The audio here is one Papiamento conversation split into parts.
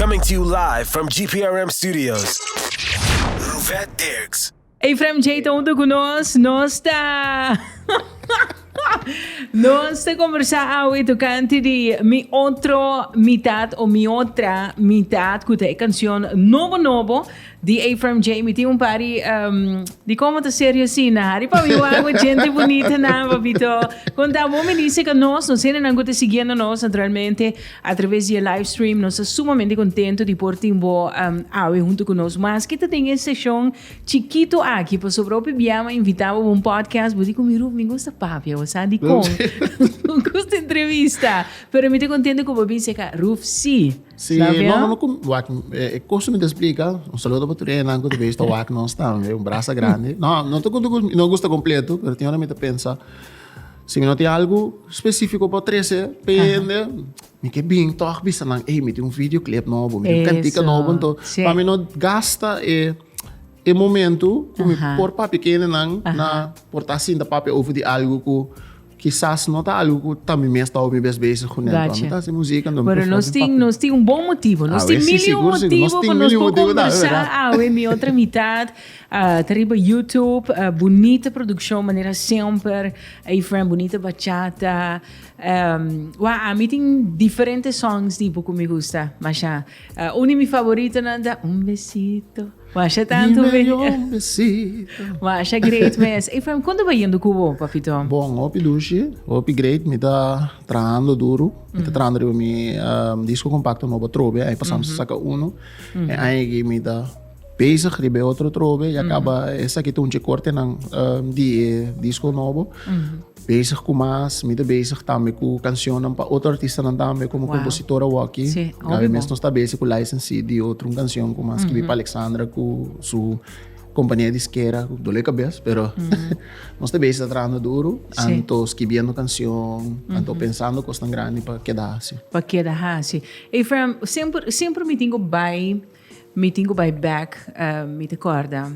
Coming to you live from GPRM studios, Ruvet Dirks. Efraim Jay ta hunto cu nos, nos ta nos ta conversa awe tocante di Mi Otro Mitad o Mi Otra Mitad cu ta e cancion nobo nobo Di ey Firm Jay mi tin un pari di como ta serio asina hari pa mi wak we gente bunita nan papito con ta bo mi dice ca nos nos hende nan cu ta siguiendo nos naturalmente a traves di e live stream nos ta sumamente contento di por tin bo awe hunto cu nos maske ta den e seshon chikito aki pasobra hopi bia mi a invita bo pa un podcast bo di cu mi Ruth mi gusta papia bo sa dicon mi gusta entrevista pero mi ta contento cu bo a bisa ca Ruth si. Si no, no, no, wak, e koso mi te explica, un saludo pa tur enan ku te beista wak nos tambe, un brasa grande. No, no te no gusta completo, pero tiene mi te pensa, si mi no te algo específico pa trece, pende, mi ke bin toch bisa nan, ey, mi te un videoclip nobo, mi te un cantica nobo, ento, pa mi no gasta e, e momento ku mi por papia kende nan na por ta sinta papia over di algo ku, Kisas no ta algu ku tambe mi a staba mi bes bezig ku nel. Mi ta hasi musika. Pero nos tin, nos tin un bon motibu. Nos tin mil i un motibu pa nos por kombersá awe mi otro mitat. Ta riba YouTube. Bunita produkshon manera semper. Efren, bunita bachata. Wak, ami tin diferente songs tipo ku mi gusta masha. Un di mi favoritonan ta Un besito Masha tanto mi mehor un besito Masha great mes Efraim konta ta yendo ku bo papi Tom? Bon hopi dushi hopi great mi ta trahando duru mi ta trahando riba mi disco compacto nobo atrobe aña pasado mi sa saka uno e aña aki mi ta bezig riba e otro atrobe ya caba esaki ta un dje cortenan di e disco nobo. Bezig ku mas, mi ta bezig tambe ku kanshonnan pa otro artistanan tambe komo kompositor awor aki. Laga mes nos ta bezig ku license si di otro un kanshon ku nan skirbi pa Alexandra ku su kompania diskera ku dole kabes pero nos ta bezig ta trabahando duru anto skirbiendo kanshon anto pensando kosnan grandi pa keda hasi. Pa keda hasi. Efraim, semper semper mi tin ku bai mi tin ku bai bek mi ta kòrda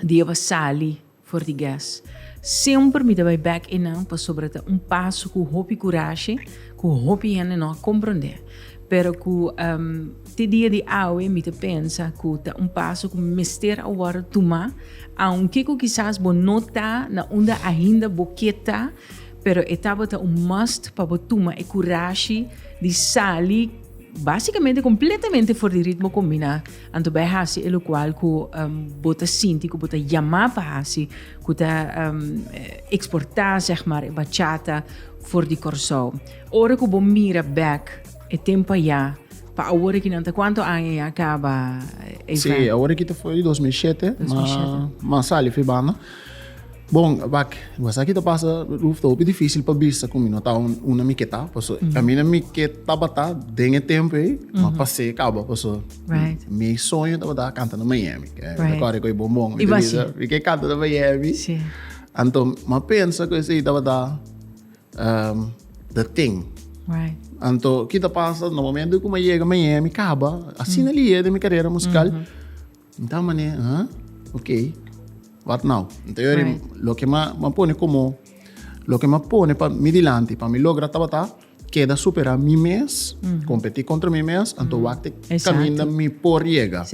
di e basali. For di gas. Semper mi ta bai bek e nan pasobra ta un paso cu hopi curashe, cu hopi hende no a comprende. Pero cu te dia di awe mi ta pensa cu ta un paso cu mester a wordo tuma, aunke cu kisas bo no ta na unda ainda bo ke ta, pero e tabata un must pa bo tuma e curashi di sali basicamente completamente for di ritmo combina. Anto bai hasi e lokual ku bo ta sinti ku bo ta yamá pa hasi ku ta eksportá sèg maar e bachata for di Kòrsou. Ora ku bo mira bèk e tempu ayá pa awor aki nan ta kuantu aña ya kaba e evènt? Sí, awor aki ta fo'i dos mil shete, ma sali fi banda. Bon, wak, mas aki ta pasa, Ruth, ta hopi difícil pa bisa ku mi no ta un, unda mi ke ta, paso kaminda mi ke tabata den e tempu ei, ma pas'é kaba, paso Right. mi soño tabata kanta na Miami, ke Right. kòrda ku e bombon, mi I ta was bisa, mi ke kanta na Miami. Sí. Anto m'a pensa ku esei tabata ehm the thing. Right. Anto ki ta pasa, na momentu ku m'a yega Miami, kaba, asina liye den mi karera musikal. Nta mane, ha? Ok, wat now? Nta yo ri, loke m'a pone komo, loke m'a pone pa mi dilanti, pa mi logra tabata keda superá mi mes, kompetí kontra mi mes, anto wak t'e kaminda mi por yega.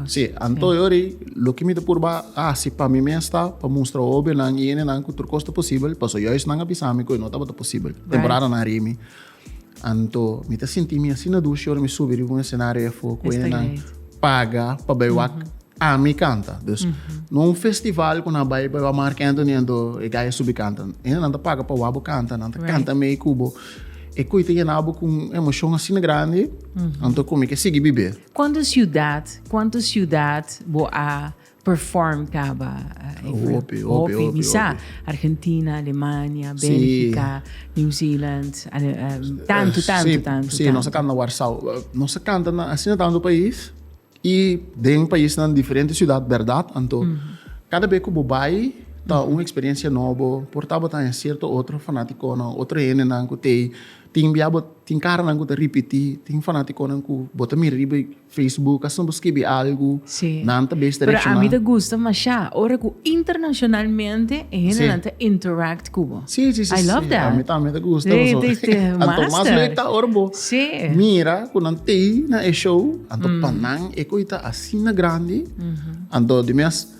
Sí, anto yo ri, loke mi ta purba hasi pa mi mes ta pa mustra hobionan i hendenan ku tur kos ta posibel, pasobra yòs nan a bisa mi ku e no tabata posibel, temporadanan ri mi. Anto mi ta sinti mi asina dushi ora mi subi riba un escenario e afo cu enan paga pa bay wak mm -hmm. ami canta. Dus mm -hmm. no un festival cu nan bay pa Mark Anthony anto e gaya subi canta. Enan ta paga pa wak bo canta, nan ta right. canta mee cubo. E cu ta yena bo cu un emocion asina grandi, mm -hmm. anto cu mi ke sigui bibe. Cuanto ciudad, cuanto ciudad bo a perform caba hopi hopi hopi sa argentina alemania belgica new zealand tanto tanto tanto si nos a canta na warsau nos a canta na asina tanto pais y den pais nan diferente ciudad berdad anto cada be cu bo bay ta un experiencia nobo por tabo ta den cierto otro fanaticonan otro hendenan cu tey tin bia bo tin caranan cu ta ripiti tin fanaticonan cu bo ta mira riba y Facebook asina bo skibi algu nan ta bes ta reakshoná. Pero ami ta gusta mashá ora ku internashonalmente e hendenan ta interact ku bo. I love that. Ami tambe ta gusta pasobra anto mas lek ta ora bo mira ku nan tei na e show anto pa nan e koe ta asina grandi anto di mes.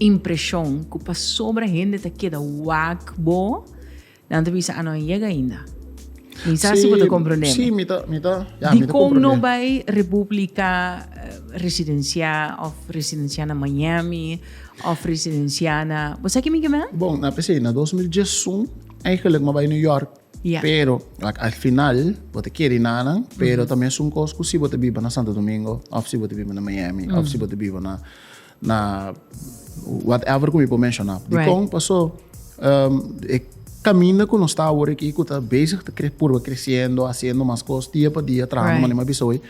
impreshon ku pasobra hende ta keda wak bo, nan ta bisa, a no a yega ainda. Mi sa si bo ta komprondé mi. Sí, mi ta, mi ta, ya, mi ta komprondé. Dikon no bai Repúblika residensiá òf residensiá na Miami òf residensiá na, bo sa kimi ke men? Bon, nan a p'esei, na dos mil diesun eigenlik mi a bai New York, pero lak al final bo ta keda na nan, pero tambe esun kos ku si bo ta biba na Santo Domingo òf si bo ta biba na Miami òf si bo ta biba na na whatever ku mi por menshoná dikon pasó e kaminda ku nos ta awor aki ku ta bezig ta purba kresiendo hasiendo mas kos dia pa dia trahando mane mi a bisa hoy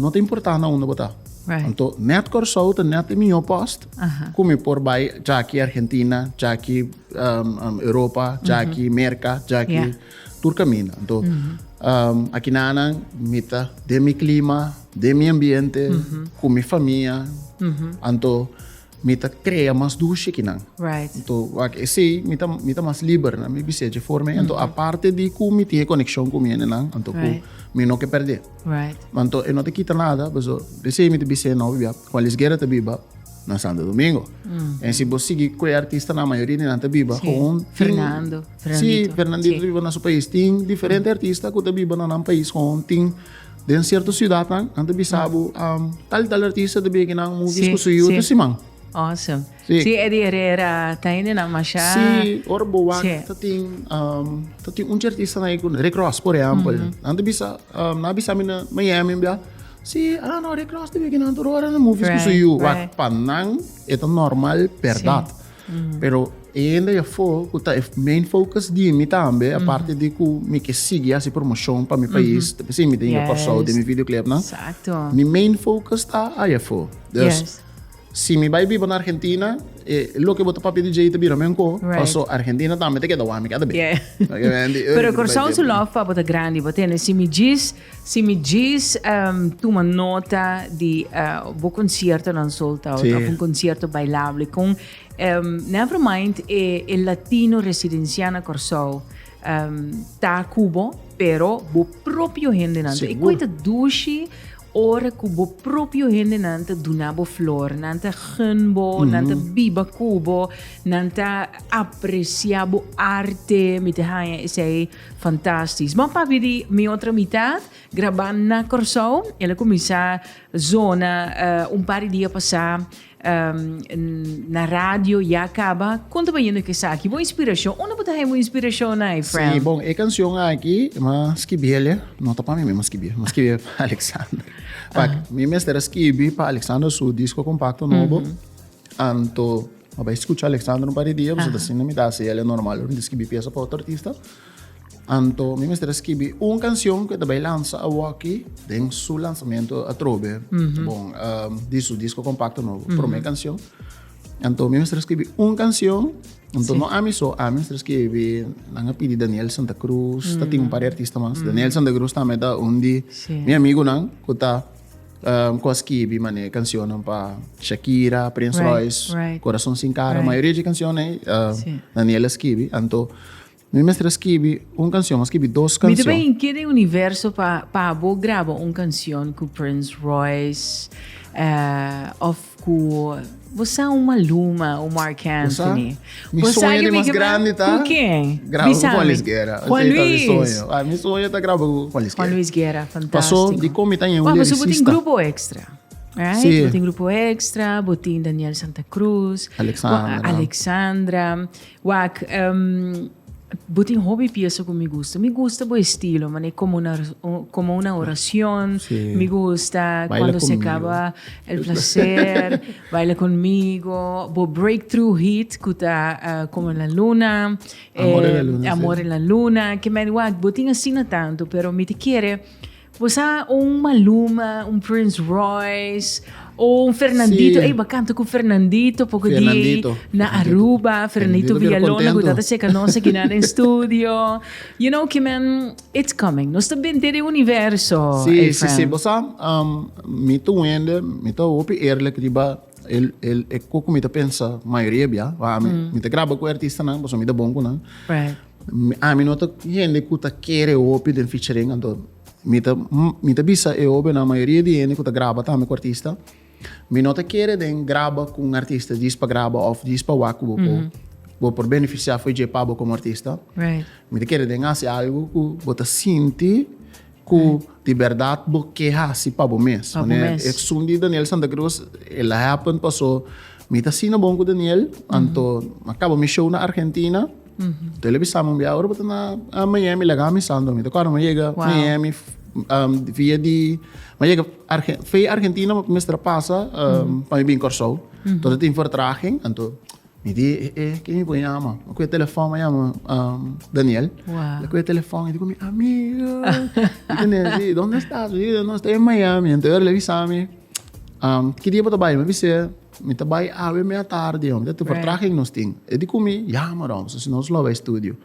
no ta importá na unda bo ta anto nèt Kòrsou ta nèt e mihó pòst ku mi por bai djaki Argentina djaki Europa djaki Merka djaki tur kaminda anto aki nanan mi ta den mi klima. Den mi ambiente, cu mi famia, anto mi ta crea mas dushi ki nan. Anto wak esey mi ta mi ta mas liber na mi bis'é dje forma ei. Anto aparte di cu mi tin e coneccion cu mi hende nan, anto cu mi no ke perd'é. Ma anto e no ta kita nada, pasobra bis'ey mi ta bis'é no bia Juan Luis Guerra ta biba na Santo Domingo. En si bo sigui cu e artistanan, a mayoria di nan ta biba gewoon tin, si, Fernandito ta biba na su pais. Tin diferente artista cu ta biba na nan pais gewoon tin. Den sierto siudatnan nan ta bisa bo, um, tal y tal artista ta bira kinan movies Sí, ku su yuta sí. siman. Awesome. Sí. Sí, Eddie Herrera, ta hendenan masha. Sí, ora bo wak Sí. ta tin um, ta tin un artista na ku Rick Ross, por ejempel. Nan ta bisa, um, nan a bisa mi na Miami bia. Sí, ah no, Rick Ross ta bira kinan tur ora na movies ku su Right, yu. Wak right. pa nan e ta normal, berdad. Pero e hende ya fo ku ta e main focus di mi tambe, aparte di ku mi ke sigui hasi promoshon pa mi pais, ta bisa mi den Yes. Kòrsou den mi videoclipnan, Exacto. mi main focus ta aya fo. Dus, Yes. si mi bai biba na Argentina, e loke bo ta papia di djei ta bira mi anko, Right. paso Argentina tambe ta keda wak mi keda bin. Yeah. Oke, mi bai Pero biba, Kòrsou bai su biba. love pa bo ta grandi. Bo tende, si mi djis Si mi djis tuma nota di bo conciertonan sold out of un concierto bailable con never mind e latino residencia na Corsou ta cu bo pero bo propio hendenan ta e cu ta dushi ora cu bo propio hendenan ta duna bo flor nan ta gun bo nan ta biba cu bo nan ta aprecia bo arte mi ta haya esey Fantastisch. Bon papi di mi otro mitad graba na Corsou. El a cuminsa zona un par di dia pasa na radio ya a caba. Con ta bayendo cu esaki? Bo inspiracion? Unda bo ta haya bo inspiracion ai friend? Si bon e cancion aki ma skibiele no ta pa mi mismo skibie ma skibie pa Alexander. Pac mi mester a skibi pa Alexander su disco compacto nobo. Anto a bai scucha Alexandro un par di dia, pues ta sinta mi ta haci el e normal pa mi scribi pieza pa otro artista. Anto mi mester a scribi un cancion cu e ta bai lansa awoki den su lansamento atrobe, bon, di su disco compacto nobo, prome cancion. Anto mi mester a scribi un cancion, anto no ami so, ami mester a scribi, nan a pidi Daniel Santa Cruz, ta tin un par di artista mas, Daniel Santa Cruz tambe ta un di mi amigonan cu ta. Um, kon skibi mané cancionnan pa Shakira, Prince right, Royce, right. Corazon sin cara. Right. Maioria de cancionnan um, ehm, sí. Daniela skibi. Anto, mi mestre skibi un canción, mas skibi dos canciones. Mi também inquieta em universo para pa bo graba um canción com Prince Royce uh, of Cu bo sa un Maluma, un Marc Anthony. Mi soño di mas grandi ta. Cu ken? Graba cu Juan Luis Guerra. Juan Luis. Ah, mi soño ta graba cu Juan Luis Guerra. Juan Luis Guerra, fantastico. Paso di comi ta un liricista. Bo tin grupo extra. Right? Sí. Bo tin grupo extra, bo tin Daniel Santa Cruz. Alexandra. Alexandra. Wak, Bo tin hopi piesa ku mi gusta. Mi gusta bo estilo, manera komo una komo una oracion, mi gusta Cuando se acaba el placer, Baila conmigo, bo breakthrough hit ku ta Como en la luna, Amor en la luna, Amor en la luna, kemen wak bo tin asina tantu pero mi ta kere Bo sa un Maluma, un Prince Royce, o un Fernandito, ey bacan ta cu Fernandito poco di ey na Aruba, Fernandito Villalona cu ta ta seca nos aki na den studio, you know ki men, it's coming, nos ta bente den universo, ey friend. Si, si, si, bo sa, mi ta wende, mi ta hopi eerlijk riba e cu cu mi ta pensa mayoria bia, mi ta graba cu e artistanan pasobra mi ta bon cu nan. Ami no ta hende ku ta kere hopi den featuring anto mi ta mi ta bisa e hopi na mayoria di hende ku ta graba tambe ku artista mi no ta kere den graba ku un artista djis pa graba of djis pa wak ku bo por bo por beneficia for dje pa bo komo artista mi ta kere den hasi algu ku bo ta sinti Cu di berdad bo ke haci pa bo mes. Pa bo mes. Esun di Daniel Santa Cruz e la happen paso mi ta asina bon cu Daniel anto a caba mi show na Argentina anto el a bisa mi un bia ora bo ta na Miami lega ami Santo mi ta cuada mi a yega Miami via di mi a yega via Argentina mi a mester a pasa pa mi bin Corsou anto tin vertraging anto. Mi di e ken mi por yama? Mi kue telefòn, mi yama Daniel. Wow. Mi kue telefòn, mi di ku mi amigu. Mi ku ne si, donde estas? Mi di, no, estoy en Miami. Entonces ora el a bisa mi, um, ki dia bo ta bai? Mi a bisa e, mi ta bai awe mea tardi, mi ta tupar traha ken nos tin. E di ku mi, yama Rom, so si nos lo bai studio.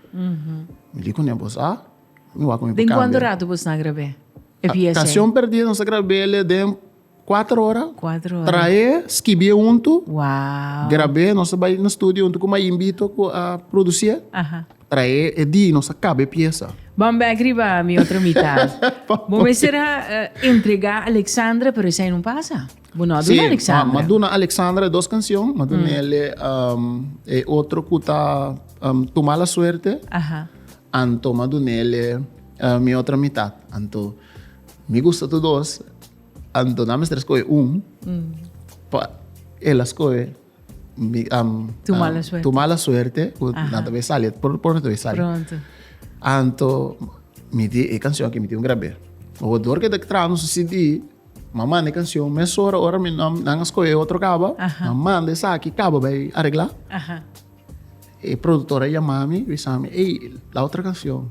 Mi di ku ne, bo sa? Mi wak ku mi por kambia. Den kuantu ratu bo stá grab'é e pies'é? Canción Perdida nos a grab'é den. 4 ora. 4 ora. Trae, skibie untu. Wow. Grabé, nos a bai na studio untu ku Mayimbito ku a produsie. Aha. Trae e di, nos a kabe piesa. Ban bek riba mi otro mitat. Bo mester a eh, entrega Alexandra, pero esei no pasa. Bo no a duna ma, Alexandra. ma duna Alexandra e dos kansion, ma duna ele am, e otro ku ta am, Tuma la Suerte, Aha. anto ma duna ele eh, mi otro mitat. Anto mi gusta tu dos, Anto nan mester skohe un pa el a skohe tu mala suerte ku nan ta bin sali, pronto pronto ta bin sali. Anto mi tin e kanshon akí mi tin grab'é. Odoor ke ta traha nos CD mi a manda e kanshon mesora ora nan a skohe otro kaba mi a manda esaki kaba bai aregla e produktor a yama mi bisa mi ey la otro kanshon.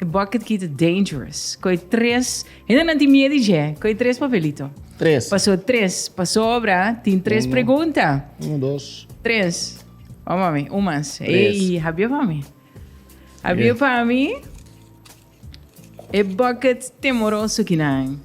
E bucket key ta dangerous. Koe tres, hende nan tin miedi dje. Koe tres papelito. Tres. Paso tres, pasobra tin tres Uno. pregunta. Uno, dos. Tres. Vamos a mi, un mas. Tres. Ey, habia pa mi. Habia Tres. pa mi. E bucket temoroso kinan.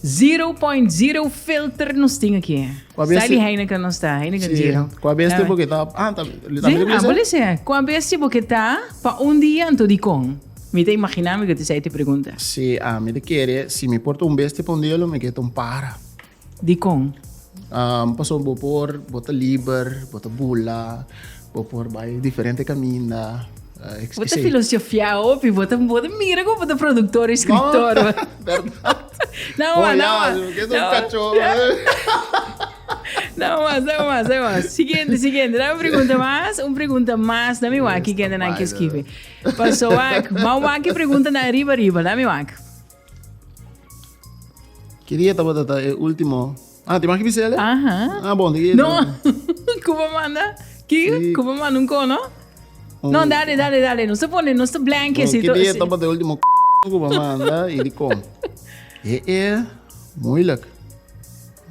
Zero point zero filter nos tin aki. Kua besti- Sali Heineken nos ta, Heineken Sí, zero. kua besti Dame. bo ke ta ah ta li ta Sí, miri ah, bisa? bo le se, kua besti bo ke ta pa un dia anto dikon? Mi ta imaginá mi ku ta esei te pregunta. Sí, ah mi ta kere si mi por ta un besti pa un dia lo mi ke ta un pájara. Dikon? Pasobra bo por, bo ta liber, bo ta bula, bo por bai diferente kaminda, etc. Bo ta filosofiá hopi, bo ta bo ta mira ku bo ta produktor i skriptor. Bèrdat. Nan mas, nan mas. Bo ya, ke ta un kachó. Nan mas, nan mas, nan mas. Siguiente, siguiente. Dame un pregunta mas, un pregunta mas. Dame wak ki kende nan ke skibi. Pasobra wak, mas wak ki preguntanan riba, riba. Dame wak. Ki dia tabata ta e ultimo? Ah, tin mas ki bisa ele? Aha. Ah, bon, di No, Cuba manda. Ki? Sí. Cuba manda un cono? Un- No, dale, dale, dale. Nos te pone, nos te blank Bon, así. ki to- dia sí. tabata e ultimo c****** Cuba manda y di con? E, e, moeilijk.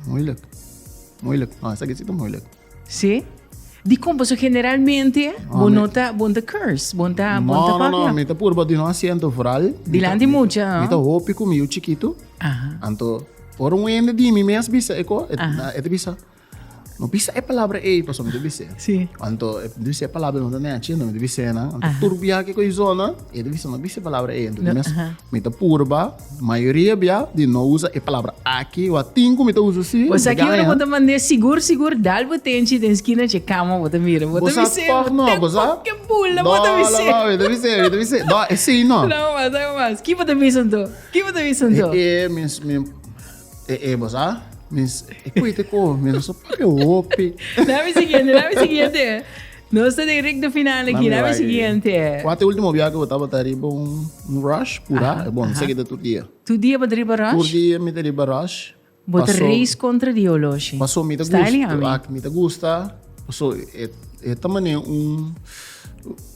Moeilijk. Moeilijk. No, esaki si ta moeilijk. Sí. Di kon paso generalmente ah, bon no ta bon ta curse, bon ta bon ta papia. No, no, mi ta purba di no asiento vooral. Dilante mucha. Mi ta hopi ku mi u chiquito. Aha. Anto por un wende di mi mes bisa eko, et, et bisa. No bisa e palabra ei paso mi te bisa. Sí. Anto et bisa e palabra no ta ne achi, no mi te bisa na. Anto turbia ke ko zona, et bisa no bisa e palabra ei. Anto mi mes mi ta purba Mayoria bia di no usa e palabra aki o a tin ku mi ta usa si. Pues aki ora bo ta mand'é sigur sigur dal bo tenchi den skina dje kama bo ta mira. Bo ta bis'é tòg no, bo sa? Te poke bula bo ta bis'é. No no no mi ta bis'é mi ta bis'é no esei no. Sa bo mas sa bo mas ki bo ta bisa anto ki bo ta bisa anto. E e mi mi e e bo sa mi e koe te ko mi no sa papia hopi. Na mi siguiente na mi siguiente. Nos ta den recta final aki na mi siguiente. Cu a ta e ultimo biaha cu bo tabata riba un rush cura? E bon, esaki ta tur dia. Tur dia bo ta riba rush? Tur dia mi ta riba rush. Bo ta race contra di oloshi. Paso mi ta gusta. Style yami. Aki mi ta gusta paso e ta mane un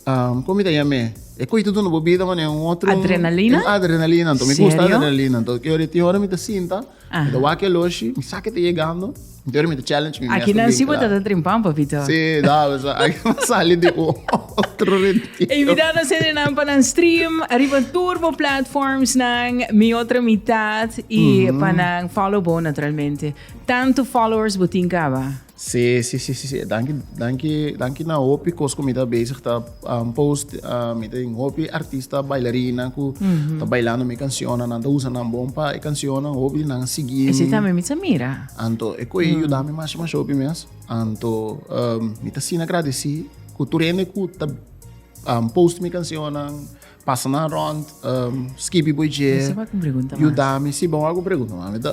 como mi ta yame? E coy ta duna bo bida mane un otro. Adrenalina? Un adrenalina anto mi gusta adrenalina anto tin ora mi ta sinta. Mi ta wak e loshi, mi sa ke ta yegando, pero mi ta challenge mi mes. Aki nan si bo ta ta trimpan, papito. Sí, dave sa. Aki bo ta sali di un otro retiro. E invitando sende nan pa nan stream ariba tur bo platformsnan, Mi Otra Mitad, i pa nan follow bo naturalmente. Tantu followers bo tin caba? Sí sí sí sí danki danki danki na hopi cos cu mi ta bezig ta um, post uh, mi tin hopi artista bailarina cu mm -hmm. ta bailando mi cancionnan nan ta usa nan bon pa e cancionnan hopi nan sigi mi. Sí también mi ta mira. Anto e coi mm. yuda mi mas mas hopi mes. Anto um, mi ta sin agradeci cu tur hende cu ta um, post mi cancionnan pasa nan rond um, skipi boy je. Yuda mi si bon algo pregunta mi ta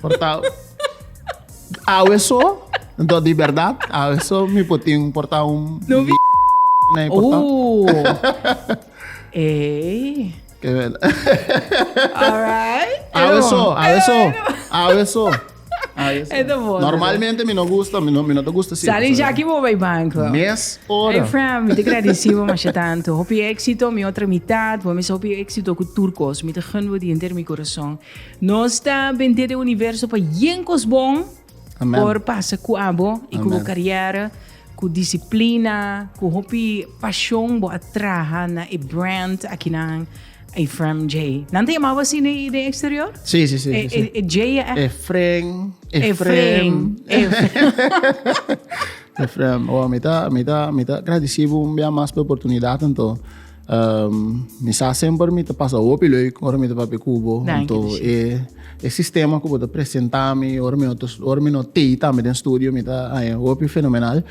Por ta awe so, do di verdad, awe so mi por tin por ta un No vi- na e por ta. Oh. Ey. Ke wel. All right. Awe Edo. so, awe so, awe so. Awe so. Edo bon, Normalmente mi no gusta, mi no mi no te gusta si. Sali Jackie bo bij banco. Mes Hey ora. friend, mi te agradeci bo masje tanto. Hopi éxito, mi otra mitad. Bo mis hopi éxito cu turcos. Mi te gun bo di enter mi corazón. Nos ta bendé den universo pa yen kos bon por pasa ku abo i ku bo karièr. Ku disiplina, ku hopi pashon bo a traha na e brand akinan Efrem J. Nan ta yamabo asi den eksterior? Sí, sí, sí. E J a èk. Efren, Efrem. Efrem. Wow, mi ta, mi ta, mi ta gradisí bo un bia mas pa e oportunidat anto. Um, mi sa semper mi ta pasa hopi leuk ora mi ta papia ku bo. Danki, Anto, Dishis. e, e sistema ku bo ta presentá mi, ora mi no, ta, ora mi no tei tambe den studio, mi ta haña hopi fenomenal.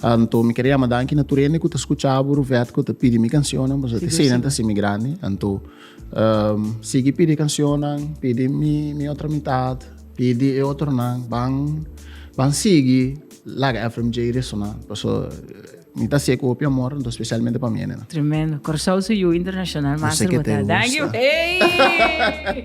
Anto, mi kere yama danki na tur hende ku ta skucha bo, Ruvet ku ta pidi mi kansionnan, pasobra Sigur, eseinan ta sigur. hasi mi grandi. Anto, um, sigui pidi kansionnan, pidi mi, mi otro mitat, pidi e otronan, ban, ban sigui laga FMJ resoná, pasobra. Mi ta hacié copia amor, entos specialmente pa mene no. Tremendo. Corsou su yu internacional master bo ta. Danki. Ey!